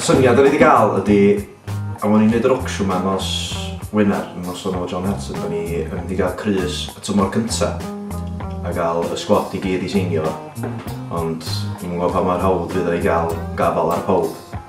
syniad da ni wedi cael ydy, a o'n i'n neud yr ocsiwn ma nos Wener, nos o'n o John Hudson, da ni yn mynd i gael crys y tymor cynta a gael y sgwad i gyd i seinio fo. Ond ni'n gwybod pa mor hawdd fydd o i gael gafal ar pawb.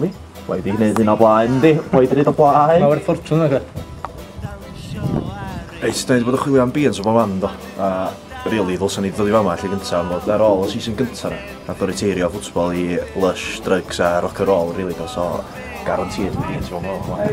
Wi? Wedi gwneud hyn o blaen, di? Wedi gwneud o blaen? Mae wedi ffortwn ag e. Reit, da ni wedi bod yn chwilio am beans o bob man, do. A, really, ddylsyn ni ddod i fama lle gyntaf, am fod ar ôl y season gyntaf na. Nath o reteirio ffwtsbol i lush, drugs a rock and roll, really, do. So, guaranteed yn beans o bob man.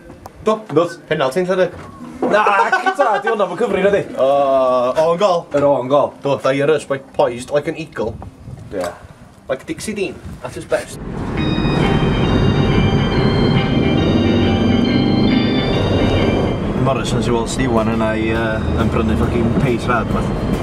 Douglas, penalty yn lle di? Na, cita, di hwnna fo cyfri na di? O, o'n gol. Yr o'n gol. Do, da i arys, mae poised like an eagle. Yeah. Like Dixie Dean, at his best. Morrison's i weld Stiwan yna i uh, yn brynu ffocin peis rad, beth.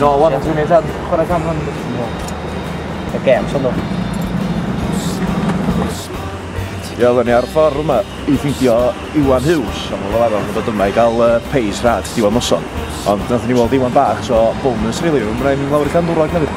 No, one, dwi'n ei dad, chwarae gan hwn. Y gem, son nhw. Ie, oedden ni ar y ffordd yma i ffeindio Iwan Hughes, ond fel arfer yn dod yma i gael uh, peis rhad diwedd noson. Ond nath ni weld Iwan bach, so bonus really, rwy'n rhaid ni'n lawr i can dwrog hefyd.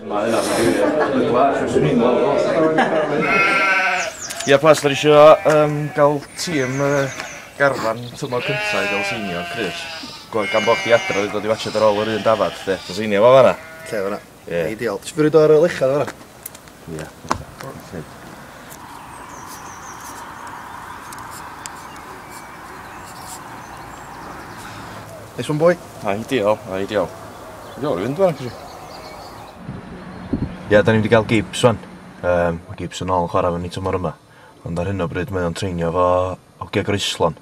Mae hynna'n wir. Y gwlad fyswn i'n gweld o. Ia plas dwi isio yym ga'l tîm yy garfan tymor cynta i ga'l senior Chris. Go- gan bo' chdi adra dwi dod i watsiad ar ôl yr un dafad 'de. Ti seinio fo fanna? Lle fanna? Ie. Ideal. Ti 'di roid o ar y lechiad fanna? Ia. Neis one boi. Na ideal na ideal. Ideal i fynd actually. Ia 'dan ni 'di ga'l Gibbs ŵan. Yym ma' Gibbs yn ôl yn chwara efo ni tymor yma. Ond ar hyn o bryd mae o'n treinio efo hogia Graceland.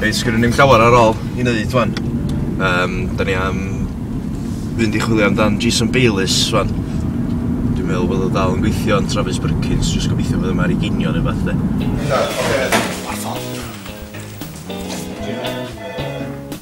Reit, sgwrn ni'n llawer ar ôl i wneud fan. Um, da ni am fynd i chwilio amdan Jason Bayliss fan. Dwi'n meddwl bod o dal yn gweithio yn Travis Perkins, jyst gobeithio bod yma ar ei ginio neu fath de. Ar ffordd.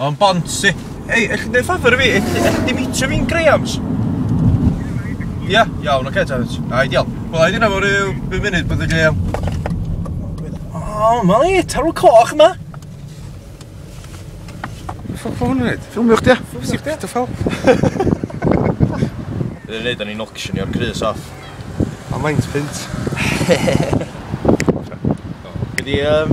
O'n bonsi. Ei, ellwch chi neud ffafr i fi? Ell- ellwch chi meetio fi'n Graham's? Ia? Iawn, ocê ta. Ai, diolch. Wel, ai dyna fo ryw bum munud bydd y Graham. O, ma ni, tarw coch yma. Ffwc fo hwn yn neud? Ffilmio chdi, ia? Ffilmio chdi, ia? Dy ffel. Bydd yn neud o'n i'n ocsionio'r crys off. A maint punt. Be di yym...